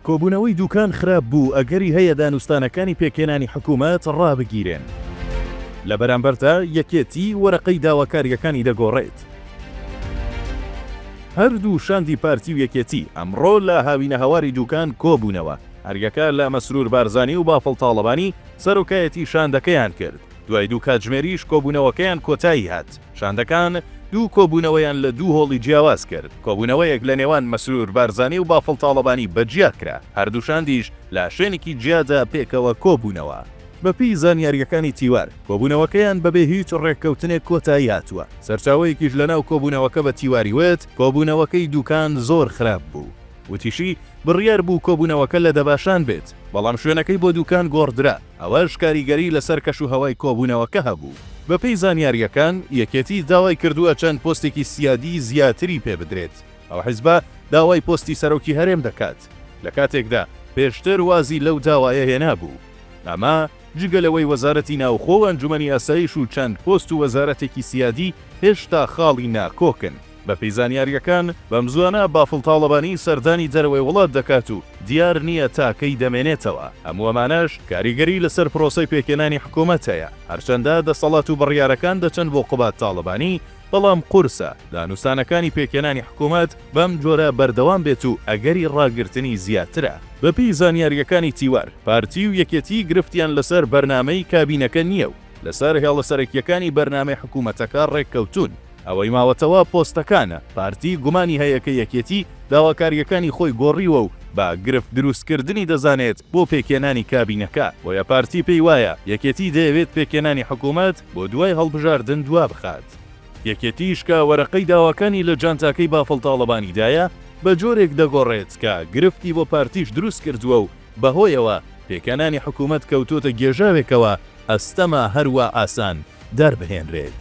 کۆبوونەوەی دووکان خراپ بوو، ئەگەری هەیە دانوستانەکانی پێکهێنانی حکوومەت ڕابگیرێن. لە بەرامبەردا یەکێتی وەرەقەی داواکارییەکانی دەگۆڕێت. هەردوو شاندی پارتی و یەکێتی ئەمڕۆ لە هاوینەهەواری دووکان کۆبوونەوە. هەریەکە لە مەسرور بارزانی و بافڵ تاڵەبانی سەرۆکایەتی شاندەکەیان کرد. دوای دوو کاتژمێریش کۆبوونەوەکەیان کۆتایی هات. شاندەکان دوو کۆبوونەوەیان لە دوو هۆڵی جیاواز کرد، کۆبوونەوەیەک لە نێوان مەسرور بارزانی و بافڵ تاڵەبانی بە جیا کرا، هەردوو شاندیش لە شوێنێکی جیادا پێکەوە کۆبوونەوە. بەپێی زانیارییەکانی تیوار، کۆبوونەوەکەیان بەبێ هیچ رێککەوتنێک کۆتایی هاتووە، سەرچاوەیەکیش لەناو کۆبوونەوەکە بە تیواری وت، کۆبوونەوەکەی دووکان زۆر خراپ بوو، وتیشی، بڕیار بوو کۆبوونەوەکە لە دەباشان بێت، بەڵام شوێنەکەی بۆ دوکان گۆڕدرا، ئەوەش کاریگەری لەسەر کەشوهەوای کۆبوونەوەکە هەبوو. بەپێی زانیارییەکان، یەکێتی داوای کردووە چەند پۆستێکی سیادی زیاتری پێ بدرێت، ئەو حزبە داوای پۆستی سەرۆکی هەرێم دەکات، لە کاتێکدا پێشتر وازی لەو داوایە هێنابوو، ئەمە جگە لەوەی وەزارەتی ناوخۆ و ئەنجومەنی ئاسایش و چەند پۆست و وەزارەتێکی سیادی هێشتا خاڵی ناکۆکن. بەپێی زانیارییەکان، بەمزووانە بافڵ تاڵەبانی سەردانی دەرەوەی وڵات دەکات و دیار نییە تا کەی دەمێنێتەوە، هەموو ئەمانەش کاریگەری لەسەر پرۆسەی پێکهێنانی حکومەت هەیە، هەرچەندە دەسەڵات و بڕیارەکان دەچن بۆ قوباد تاڵەبانی، بەڵام قورسە دانوستانەکانی پێکهێنانی حکومەت بەم جۆرە بەردەوام بێت و ئەگەری ڕاگرتنی زیاترە. بەپێی زانیارییەکانی تیوار، پارتی و یەکێتی گرفتیان لەسەر بەرنامەی کابینەکە نییە و لەسەر هێڵە سەرەکییەکانی بەرنامەی حکومەتەکە ڕێککەوتوون، ئەوەی ماوەتەوە پۆستەکانە، پارتی گومانی هەیە کە یەکێتی داواکارییەکانی خۆی گۆڕیوە و بە گرفت دروستکردنی دەزانێت بۆ پێکهێنانی کابینەکە، بۆیە پارتی پێی وایە یەکێتی دەیەوێت پێکهێنانی حکوومەت بۆ دوای هەڵبژاردن دوا بخات. یەکێتیش کە وەرەقەی داواکانی لە جانتاکەی بافڵ تاڵەبانیدایە، بە جۆرێک دەگۆڕێت کە گرفتی بۆ پارتیش دروست کردووە و بەهۆیەوە پێکهێنانی حکوومەت کەوتۆتە گێژاوێکەوە، ئەستەمە هەروا ئاسان. دەربهێنرێت.